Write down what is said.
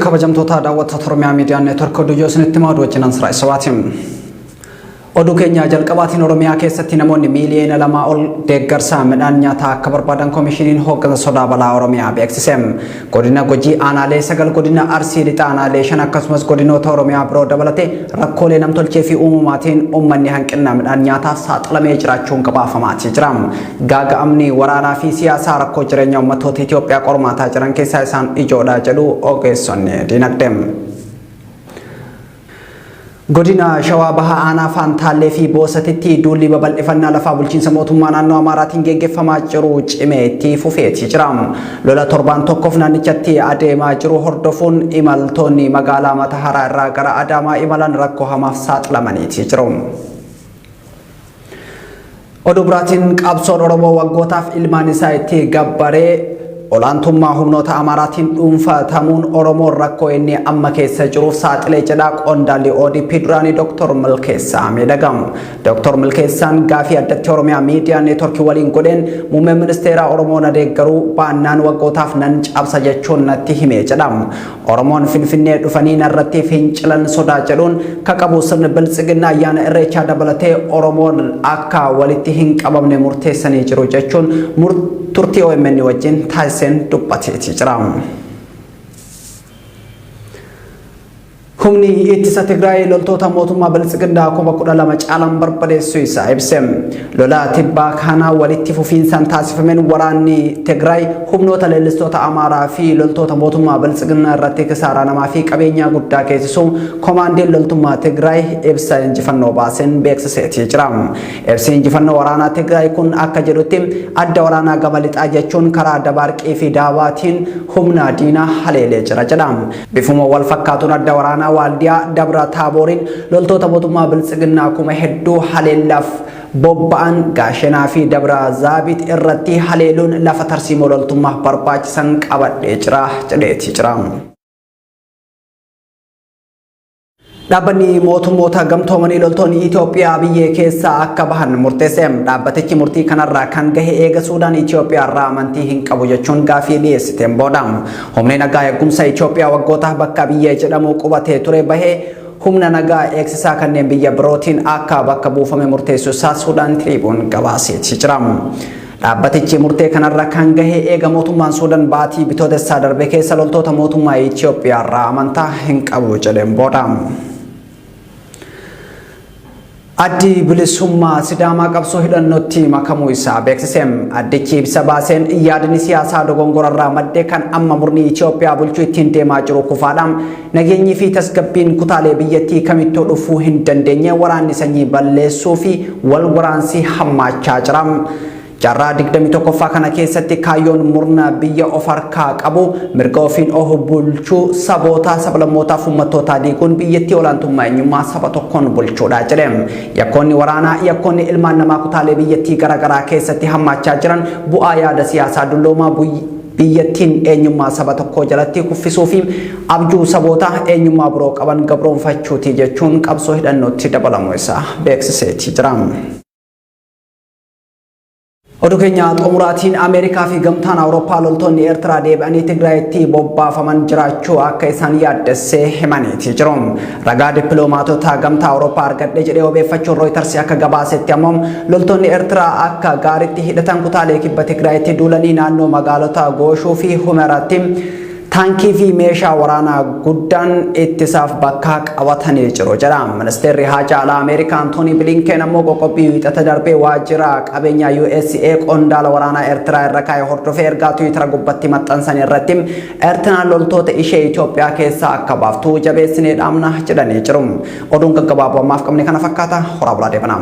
Kabajamtoota daawwattoota Oromiyaa Miidiyaa Neetwork oduu yoo isinitti himaa wajjin Ansiraa Isawaati. Oduu keenya jalqabaatiin Oromiyaa keessatti namoonni miiliyoona lamaa ol deeggarsa midhaan nyaataa akka barbaadan koomishiniin hooggansa sodaa balaa Oromiyaa beeksise. Godina Gujii aanaalee sagal godina Arsii lixa aanaalee shan akkasumas godinoota Oromiyaa biroo dabalatee rakkoolee namtolchee fi uumamaatiin uummanni hanqina midhaan nyaataa saaxilamee jiraachuun gabaafamaatii jira. Gaaga'amni waraanaa fi siyaasaa rakkoo jireenya uummattoota Itoophiyaa qormaataa jiran keessaa isaan ijoodha jedhu ogeessonni dinagdee. Godina Shawaa Bahaa Aanaa Faantaallee fi Boosatitti duulli babal'ifannaa lafaa bulchiinsa mootummaa naannoo Amaaraatiin geggeeffamaa jiru cimee itti fufeeti jira. Lola torbaan tokkoof naannichatti adeemaa jiru hordofuun imaltoonni magaalaa Mataharaa irraa gara Adaamaa imalan rakkoo hamaaf saaxilamaniiti jiru. Oduu biraatiin qabsoon Oromoo waggootaaf ilmaan isaa itti gabbaree olaantummaa humnoota Amaaraatiin dhuunfatamuun Oromoon rakkoo inni amma keessa jiruuf saaxilee jedhaa qondaalli ODP duraanii Dr. Milkeessaa miidhagamu. Dr. Milkeessaan gaafii addatti Oromiyaa miidiyaa neetworkii waliin godheen muummeen ministeeraa Oromoo na deeggaruu baannaan waggootaaf nan cabsa jechuun natti hime jedha. Oromoon Finfinnee dhufanii narratti fincilan sodaa jedhuun ka qabu sirni biltsiginnaa ayyaana irreechaa dabalatee Oromoon akka walitti hin qabamne murteessanii jiru jechuun turtii OMN wajjin taasiseen dubbateeti jira. Humni ittisa Tigraay loltoota mootummaa biltsiginnaa kuma kudha lama caalan barbadeessuu isaa ibse. Lola tibbaa kana walitti fufiinsaan taasifameen waraanni Tigraay humnoota leellistoota Amaaraa fi loltoota mootummaa Biltsiginnaa irratti kisaaraa namaa fi qabeenyaa guddaa geessisuu komaandiin loltummaa Tigraay ibsa injifannoo baaseen beeksiseetii jira. Ibsi injifannoo waraanaa Tigraay kun akka jedhutti adda waraanaa gama lixaa jechuun karaa Dabaarqii fi Daabaatiin humna diinaa haleelee jira jedha. Bifuma wal fakkaatuun adda waraanaa Waaldiyaa Dabra Taabooriin loltoota mootummaa Biltsiginnaa kuma hedduu haleellaaf bobba'an Gaashenaa fi Dabra Zaabit irratti haleeluun lafa tarsiimoo loltummaaf barbaachisan qabadhee jira jedheeti jira. Dhaabbanni mootummoota gamtoomanii loltoonni Itoophiyaa biyyee keessaa akka bahan murteesse. Dhaabbatichi murtii kanarraa kan gahe eega Suudaan Itoophiyaa irraa amantii hin qabu jechuun gaafii dhiyeessiteen booda. Humni nagaa eegumsa Itoophiyaa waggoota bakka biyyee jedhamu qubatee ture bahee humna nagaa eegsisaa kanneen biyya birootiin akka bakka buufame murteessuu isaa Suudaan Tiriibuun gabaaseeti jira. Dhaabbatichi murtee kanarra kan gahe eega mootummaan Suudan baatii Bitootessaa darbe keessa loltoota mootummaa Itoophiyaa irraa amantaa hin qabu jedheen booda. Addi bilisummaa Sidaamaa qabsoo hidhannootti makamuu isaa beeksise. Addichi ibsa baaseen yaadni siyaasaa dogongorarraa madde kan amma murni Itoophiyaa bulchuu ittiin deemaa jiru kufaadha. Nageenyii fi tasgabbiin kutaalee biyyattii kamittuu dhufuu hin dandeenye waraanni sanyii balleessuu fi wal waraansi hammaachaa jira. Jaarraa 21ffaa kana keessatti kaayyoon murna biyya of harkaa qabu mirga ofiin of bulchuu saboota, sablammootaa fi ummattootaa diiguun biyyattii olaantummaa eenyummaa saba tokkoon bulchuudha jedhe. Yakkoonni waraanaa, yakkoonni ilmaan namaa kutaalee biyyattii garaagaraa keessatti hammaachaa jiran bu'aa yaada siyaasaa dulloomaa Biyyattiin eenyummaa saba tokkoo jalatti kuffisuu fi abjuu saboota eenyummaa biroo qaban gabroomfachuuti jechuun qabsoo hidhannootti dabalamuu isaa beeksiseeti jira. Oduu keenya xumuraatiin Ameerikaa fi gamtaan Awurooppaa loltoonni Eertiraa deebi'anii Tigraayitti bobbaafaman jiraachuu akka isaan yaaddessee himaniiti jiru. Ragaa dippiloomaatota gamtaa Awurooppaa argadhe jedhee wabeeffachuun Rooyitarsi akka gabaasetti ammoo loltoonni Eertiraa akka gaariitti hidhatan kutaalee kibba Tigraayitti duulanii naannoo magaalota Gooshuu fi Humeraatti taankii fi meeshaa waraanaa guddaan ittisaaf bakka qabatanii jiru jedha. Ministeerri Haajaa Alaa Ameerikaa Antoonii Bilinkeen ammoo qoqqobbii wiixata darbee waajjira qabeenyaa USA qondaala waraanaa Eertiraa irra kaa'e hordofee ergaa Tiwiitara gubbatti maxxansan irratti Eertiraan loltoota ishee Itoophiyaa keessaa akka baaftu jabeessinee dhaamna jedhanii jiru. Oduun gaggabaaboo ammaaf qabne kana fakkaata horaa bulaa deebanaa.